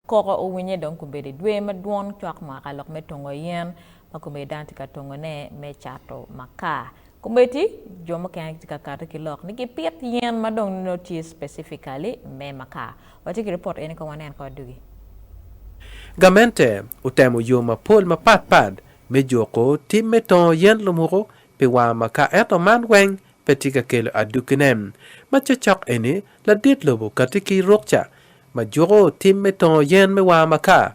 Koko owinye dong kobedo i dwe madwong cwak mwaka lok me tongo yen ma kombeddi dano tye ka tongone me cato makar. Kombeddi jo mukene gitye ka kati ki lok ni gipit yen ma dong nongo tye specifically me makar. Watye ki ripot eni kong wanen kong adugi. Gamente otemo yo mapol mapat pat me juko tim me tongo yen lumuku pi wango makar ento man weng pe tye ka kelo adukine. Ma cocok eni, ladit lobo kati ki rukca ma juko tim me tongo yen me war maka,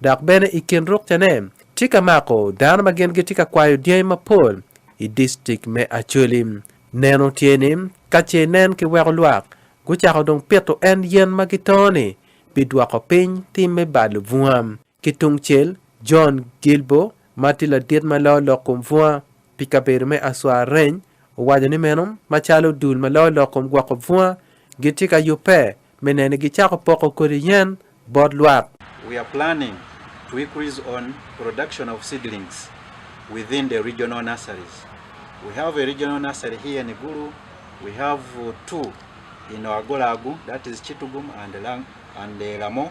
dok bene i kin rukcane tye ka mako dano ma gin gitye ka kwayo dyangi mapol i distrik me Acholi. Neno tye ni ka ce nen kiweko lwak gucako dong pito en yen ma gitongo-ni bidwoko piny tim me balo bunga. Ki tungcel, John Guilbaud, ma tye ladit ma loyo lok kom bunga pi kabedo me Aswareny, owaco ni meno macalo dul ma loyo lok kom gwoko bunga gitye ka yubbe me neno ni gicako poko kodi yen bot lwak. We are planning to increase on production of seedlings within the regional nurseries. We have a regional nursery here in Gulu, we have two in Oagolagu, that is Chitugum and Lamor.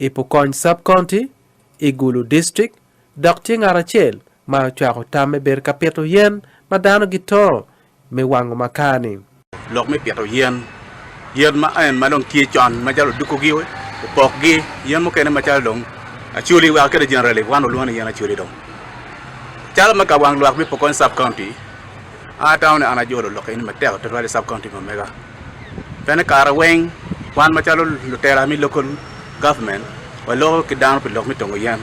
I Pokony Sub-County, i Gulu District, dok tye ngat acel ma ocwako tam me bedo ka pito yen ma dano gito me wango makani. Lok me pito yen, Yen ma en ma dong tye con macalo odukugi, opokgi, yen mukene macalo dong acoli wa kede generally wan olwongo ni yen acoli dong. Calo me ka wang lwak me Pokony Sub-County, an atamo ni an ajolo lok eni matek tutwal i Sub-County ma mega. Bene kare weng wan macalo lutela me local government waloko ki dano pi lok me tongo yen.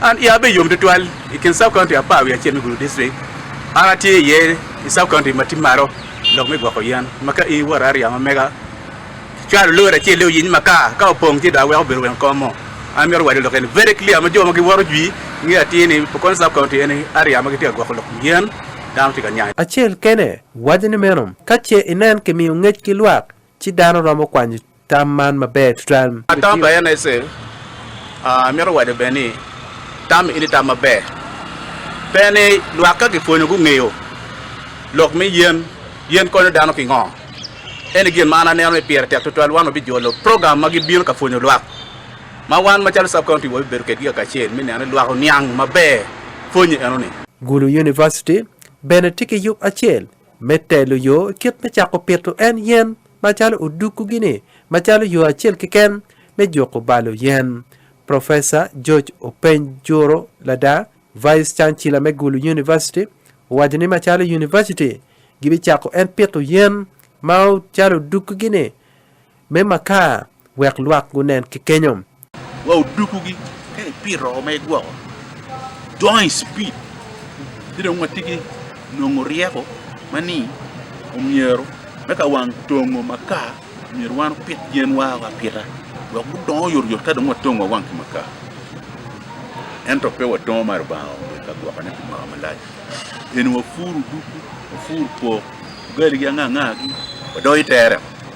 An iya be yom tutwal i kin sub county apar wiye acel me Gulu district, an atye iye i sub county ma tye malo lok me gwoko yen ma ka in iwot area ma mega cwalo lori acel ni oyiny makar ka opong ci dong aweko obedo weng kom mo. An myero wade lok eni very clear ma jo ma giwoto jwi nge atir ni Pokot County eni area ma gitye ka gwoko lok yen dano tye ka nyanyo. Acel kene Wacce ni meno, ka ce inen kimiyo ngec ki lwak, ci dano romo kwanyo tam man maber tutwal. Tam pa NSA, Amito waco bene ni tam eni tam maber. Pe ni lwak ka gipwonyo gungeyo lok me yen, yen konyo dano pingo. Eni gin ma an aneno ni pire tek tutwal wan wabijolo program ma gibino ka pwonyo lwak, ma wan macalo Sub-County wabibedo kedgi kakacel me neno ni lwak oniang maber pwonye enoni. Gulu University, Bene tye ki yub acel me telo yo kit me cako pito en yen macalo oduku-gi-ni macalo yo acel keken me juku balo yen. Professor George Openy Juro Lada, Vice Chancellor me Gulu University, owaco ni macalo University gibicako en pito yen ma calo oduku-gi-ni, Me makar, wek lwak gunen ki kenyo. Wa odukugi ka ipito ma igwoko dongo i cipid ci dong watye ki nongo ryeko ma ni omyero me ka wang tongo makar myero wan opit yen wa o apita wek gudongo yot yot ka dong watongo wa wang ki makar ento pe wa dongo ma Lubanga onge i ka gwoko ne pi mwaka malac pien wa puru duku wa puru pok ugali ki anga anga gi wa doyo itere.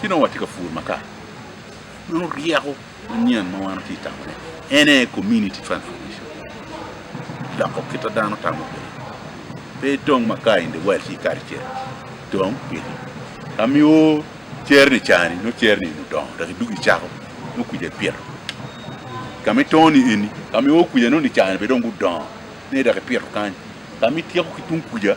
Ci nongo watye ka pur makar. Nongo ryeko manyen ma wan watye ka tamone en aye community transformation, loko kit ma dano tamo kwede. Pe dong makar in the world ci ikato i cere, dong pito. Ka miyo cere ni cani, nongo cere ni eni odongo dok idwogo icako nongo kwija ipito. Ka ma ito ni eni, ka ma ioo kwija nongo ni cani bene dong gudongo, ni dok ipito kany. Ka ma ityeko ki tung kwija,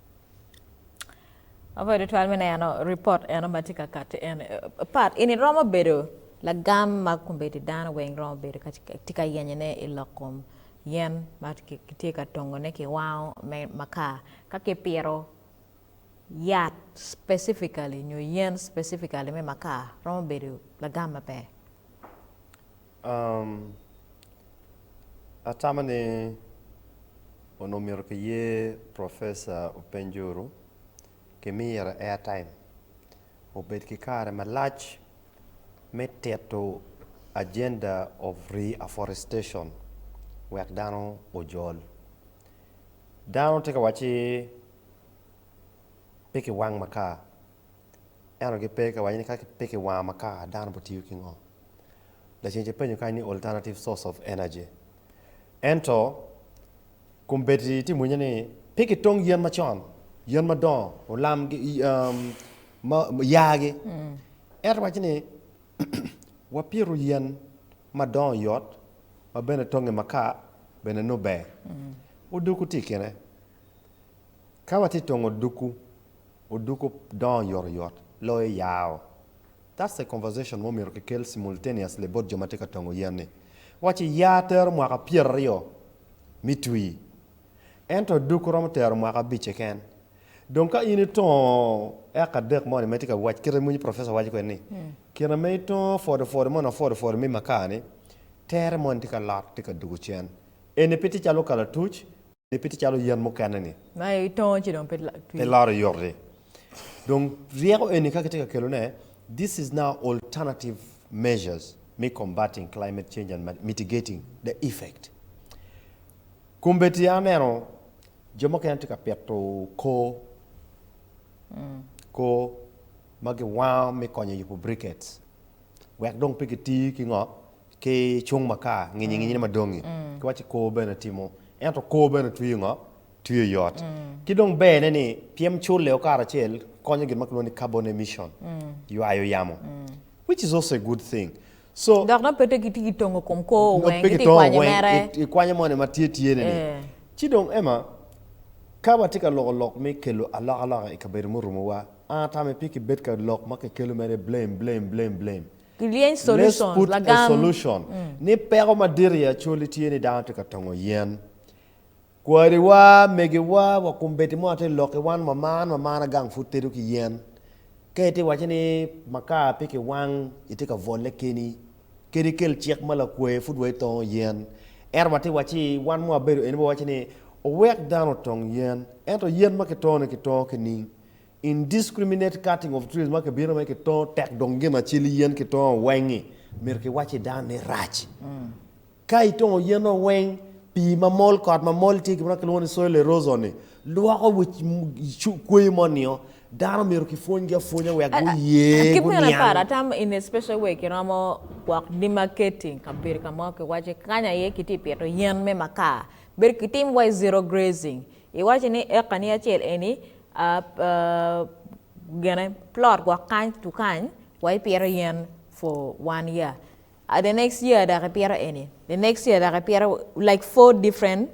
Awobi tutwal me neno ripot eno ma tye ka kati eni pat eni romo bedo lagam ma kombeddi dano weng romo bedo tye ka yenyone i lok kom yen ma kitye ka tongone ki wango me makar ka kipito yat specifically nyo yen specifically me makar romo bedo lagam maber. Um, atamo ni onongo omyero kiye professor openjuru ki mire airtime obed ki kare malac me tito agenda of reafforestation wek dano ojol. Dano tye ka wacci pe ki wang makar ento gipe ka waco ni ka pe ki wango makar dano bi tiyo ki ngo? Lacen ci penyo kany ni alternative source of energy. Ento kombeddi tye mwinya ni pe ki tong yen macon, yen madongo, olam gi um, ma, yaa gi. Ento waco ni wa pito yen madongo yot ma bene tonge makar bene nongo ber. Odoko tye i kine. Ka watye tongo odukku, odukku dongo yotoyot loyo yao. That's a conversation ma omyero kikel simultaneously bot jo ma tye ka tongo yen ni, Waci yaa tero mwaka pyeraryo mi twi, ento odukku romo tero mwaka abic keken. Dong ka in itongo eka adek moni ma itye ka wac kite moni professor waco kwede ni, kine ma itongo fodifodi moni ma fodifodi mi makar ni, tere moni tye ka lor tye ka duku cen. Eni pe tye calo kalatuc. Pe tye calo yen mukene-ni. Ma itongo ci dong pe twi. Pe loro yot-ti. Dong ryeko eni ka kitye ka kelone, this is now alternative measures me combating climate change and mitigating the effect. Kombeddi aneno jo mukene tye ka pito koo, koo ma giwango me konyo yubo briquettes wek dong pe giti ki ngo? Ki cung makar, nginyi nginyine madongi, ki waco kor bene timo, ento kor bene twiyo ngo? Twiyo yot. Ki dong ber ne ni pyem culle o karacel konyo gin ma kilwongo ni carbon emission, ywayo yamo, which is also a good thing. So. Dok nongo pe te kitye ki tongo kom kor oweng, nongo pe ki tongo oweng, ki tongo weng, ikwanyo moni ma tye tye ne ni. Ci dong Emma, ka watye ka loko lok me kelo alokaloka ikabedo murumo wa, an atame pe ki bed ka lok ma ki kelo mere blame, blame, blame, blame. Gilyeny solutions, Let's put a lagam. solution ni peko madit i Acholi tye ni dano tye ka tongo yen. Kwariwa, megiwa, wa kombeddi mo atir lok ki wan ma man ma man agang pud tedo ki yen. Ka itye waco ni makar pe ki wang itye ka vole keni. Kadi kel cik ma lakwaye pud wa itongo yen. Ento watye waci wan ma wabedo eni wawaco ni owek dano otong yen. Ento yen ma kitongo ni kitongo kining? Indiscriminate cutting of trees ma kibino ma kitongo tek dong gin acel yen kitongo weng-ngi, myero kiwacci dano ni rac. Ka itongo yen-no weng, pii ma mol, kot ma mol tye gin ma kilwongo ni soil erosion-ni, lwoko kweyo mo nio. Dano myero kipwonygi apwonya wek guye, Kit meno guniang. aparo ata in a special way kiromo gwok demarcating kabedo ka mo kiwaco kany aye kitye ka pito yen me makar. Bedo kitimo waci zero grazing. Iwaco ni eka ni acel eni gine plot gwok kany to kany wa ipito yen for one year ah the next year dok ipito eni the next year dok ipito like four different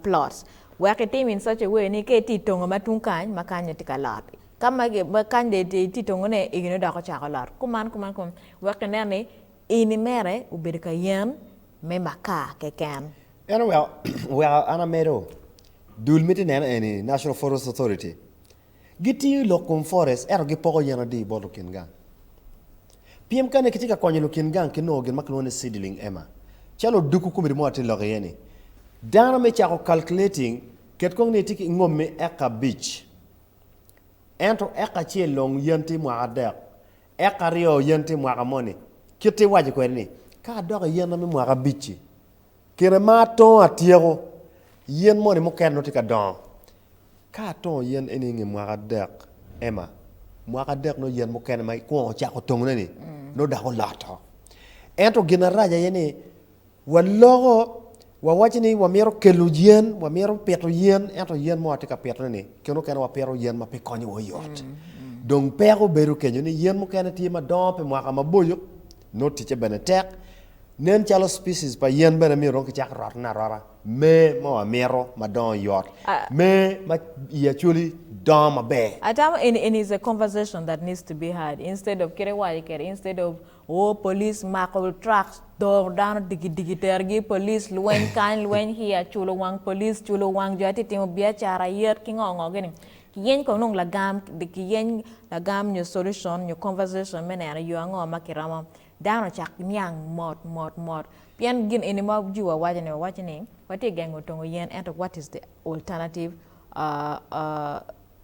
plot wek itim in such a way ni ka itye itongo ma tung kany ma kany dong tye ka lot ka ma kany dong itye itongo ne eni dong dok ocako lot kuman kuman kuman wek inen ni Ini mere obedo ka yen me makar keken. En oweko an amedo. Dul miti neno eni, National Forest Authority, gitiyo i lok kom forest ento gipoko yen adi bot lukin gang. Pien kane kitye ka konyo lukin gang ki nongo gin ma kilwongo ni seedling, Emma, calo odukku komiti mo atye lok iye-ni, dano me cako calculating, ket kong ni itye ki ngomi eka abic, ento eka acel long yen tye mwaka adek, Eka aryo yen tye mwaka moni, kite iwaco kwede ni, Ka adok i yen na me mwaka abic-ci, kine ma atongo atyeko, yen moni mukene nongo tye ka dongo. Ka atongo yen eni i nge mwaka adek, Emma, mwaka adek nongo yen mukene ma ikwongo cako tongone-ni nongo dako oloto. Ento gin arac aye ni, Waloko, wawaco ni wamito kelo yen, wamito pito yen, ento yen mo atye ka pitone ni kene okene wapito yen ma pe konyo wa oyot. Dong peko bedo kenyo ni yen mukene tye ma dongo pi mwaka maboco, nongo ticce bene tek. Nen calo species pa yen bene myero dong kicak rotone arota. Mee ma wamito ma dongo yot, mee ma i actually dongo maber. Atamo eni, eni is a conversation that needs to be had instead of kit iwaco kede instead of Woo police mako truck doro dano digi digi tergi police lweny kany lweny here culo wang police culo wang jo atye timo biacara yet ki ngo ngo gini kiyeny kong nong lagam kiyeny lagam nyo solution nyo conversation me neno yo ango ma kiromo dano ocak niang mot mot mot pien gin eni ma ji wa waco ni wawaco ni watye gengo tongo yen ento what is the alternative ahh ahh.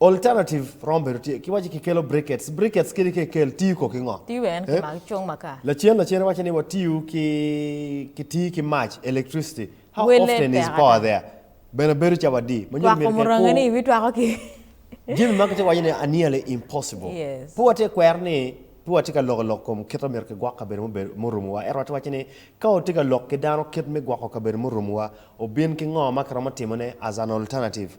Alternative rom bedo tye ki waci kikelo brickets. Brickets kit ki kel tiyo ko ki ngo? Tiyo en ki mag cung maka. Lacen lacen iwaco ni watiyo ki ki tiyo ki mac, electricity. How Wele often is tek power ata. there? Bene bedo ca wadi. Ma nyuto Twako myero kek muranga ni iwi twako ki. Jami ma kitye ka waco ni are nearly impossible. Yes. Pe watye ka kwero ni pe watye ka loko lok kom kit ma myero kigwok kabedo mubedo murumuwa. Ento watye ka waco ni ka watye ka lok ki dano kit me gwoko kabedo murumuwa, obin ki ngo ma kiromo timone as an alternative.